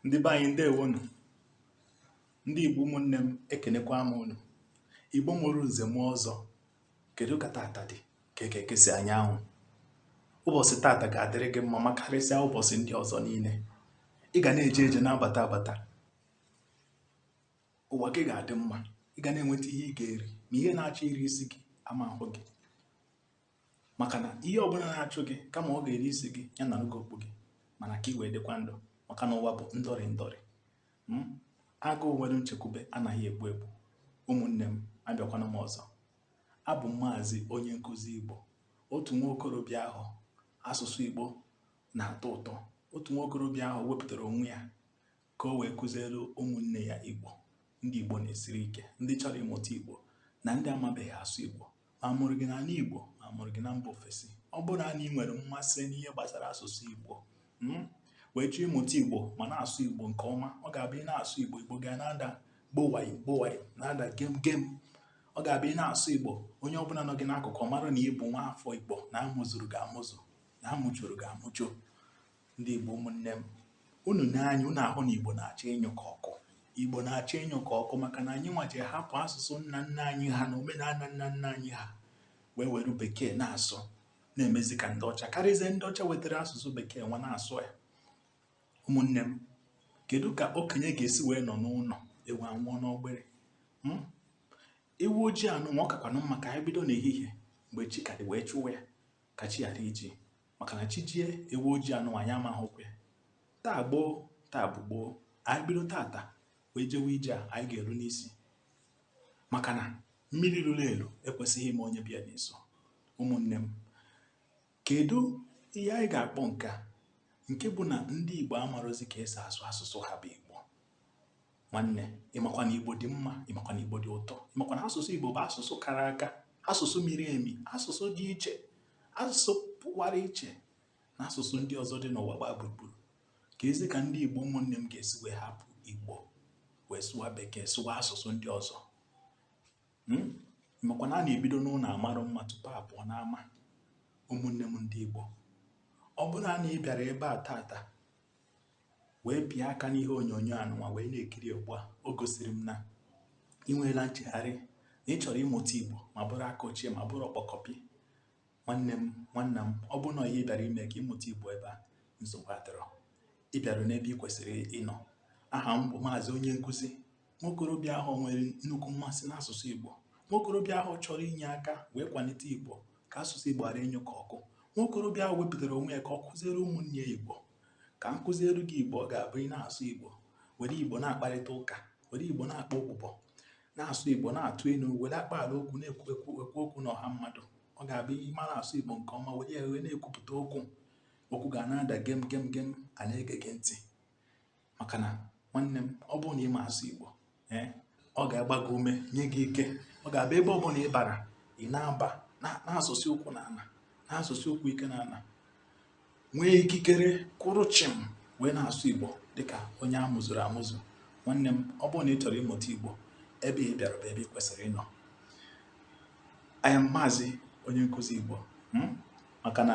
ndị be anyị ndewonu ndị igbo ụmụnne m ekenekwa m unu igbo mụrụ nze mụọ ọzọ kedu ka tata dị ka eke ekesi anyanwụ ụbọchị tata ga-adịrị gị mma makarịsịa ụbọchị ndị ọzọ niile ị ga na-eje eje na-abata abata ụwa gị ga-adị mma ị ga na-enweta ihe ị ga-eri ma ihe na-achọ iri isi gị ama ahụ gị maka na ihe ọbụla na-achụ gị kama ọ ga-eri isi gị ya nara gị okpu gị mana ka ị wee dịkwa ndụ maka na ụwa bụ ndọrị ndọrị hmm? agụụ nwere nchekwube anaghị egbu egbu ụmụnne m abịakwana m ọzọ abụ m maazị onye nkụzi igbo otu nwa okorobịa ahụ asụsụ igbo na-atọ ụtọ otu nwa okorobịa ahụ wepụtara onwe ya ka o wee kụziere ụmụnne ya Igbo ndị Igbo na-esiri ike ndị chọrọ ịmụta Igbo na ndị amabeghị asụ Igbo ma a mụrụ gị n'ala Igbo ma a mụrụ gị na mba ofesi ọ bụrụ na ị nwere mmasị n'ihe gbasara asụsụ Igbo hmm, wee chọọ ịmụta Igbo ma na-asụ Igbo nke ọma ọ ga-abụ ị na-asụ Igbo Igbo ga na-ada gbowayo gbowayo na-ada gem gem ọ ga-abụ ị na-asụ Igbo onye ọbụla nọ gị n'akụkụ mara na ị bụ nwa afọ Igbo na a mụzuru gị amụzu na a mụjuru gị amụju Ndị Igbo ụmụnne m, unu nee anya unu ahụ na Igbo na-achọ ịnyụ ka ọkụ. Igbo na-achọ ịnyụ ka ọkụ maka na anyị nwa jee hapụ asụsụ nna nna anyị ha na omenala nna nna anyị ha wee were bekee na-asụ na-emezi ka ndị ọcha karịzie ndị ọcha wetara asụsụ bekee nwa na-asụ ya. Ụmụnne m, kedu ka okenye ga-esi wee nọ n'ụlọ ewu anwụọ n'ọgbịrị? Hmm? Ewu ojii anụnwa ọ kakwanụ mma ka anyị bido n'ehihie mgbe chi ka dị wee chụwa ya ka chi ghara iji maka na chi jie ewu ojii anụnwa anyị ama ahụkwa ya taa gboo taa bụ gboo anyị bido tata wee jewe ije a anyị ga-eru n'isi maka na mmiri ruru elu ekwesịghị ime onye bịa n'iso ụmụnne m kedu ihe anyị ga-akpọ nke a nke bụ na ndị Igbo amarozi ka e si asụ asụsụ ha bụ Igbo nwanne ịmakwa na igbo dị mma ịmakwa na igbo dị ụtọ ịmakwa na asụsụ igbo bụ asụsụ kara aka asụsụ miri emi asụsụ dị iche asụsụ pụkwara iche n'asụsụ ndị ọzọ dị n'ụwa gbaa gburugburu keezi ka ndị igbo ụmụnne m ga-esi wee hapụ igbo wee sụwa bekee sụwa asụsụ ndị ọzọ hmm? ịmakwa na a na-ebido n'ụlọ amarụ mma tupu a pụọ n'ama ụmụnne m ndị igbo ọ bụrụ na ị bịara ebe a tata wee pịa aka n'ihe onyonyo anụnwa wee na-ekiri ugbu a o gosiri m na ị nweela nchegharị na ị chọrọ ịmụta igbo ma bụrụ aka ochie ma bụrụ ọkpọkọpị nwanne m nwanna m ọ bụrụ na ihe ị bịara ime ka ị mụta igbo ebe a nsogbu adịrọ ị bịara n'ebe ị kwesịrị ịnọ aha m bụ maazị onye nkụzi nwokorobịa ahụ nwere nnukwu mmasị n'asụsụ Igbo nwokorobịa ahụ chọrọ inye aka wee kwalite Igbo ka asụsụ Igbo ghara ịnyụ ka ọkụ nwokorobịa ahụ wepụtara onwe ya ka ọ kụziere ụmụnne ya Igbo ka m kụziere gị Igbo ọ ga-abụ ị na-asụ Igbo were Igbo na-akparịta ụka were Igbo na-akpa okpụkpọ na-asụ Igbo na-atụ ilu were akpa ala okwu na-ekwu ekwu ekwu okwu na ọha mmadụ ọ ga-abụ ị mara asụ Igbo nke ọma were ya wee na-ekwupụta okwu okwu ga na-ada gem gem gem a na-ege gị ntị maka na nwanne m ọ bụrụ na ị ma asụ Igbo ee eh, ọ ga-agba gị ume nye gị ike ọ ga-abụ ebe ọ bụla ị bara ị na-aba na-azọsi ụkwụ na ala na-azọsi ụkwụ ike na ala nwee ikikere kwụrụ chịm wee na-asụ Igbo dịka onye a mụzuru amụzu nwanne m ọ bụrụ na ị chọrọ ịmụta Igbo ebe ị bịara bụ ebe ị kwesịrị ịnọ anya maazị onye nkụzi Igbo hmm? maka na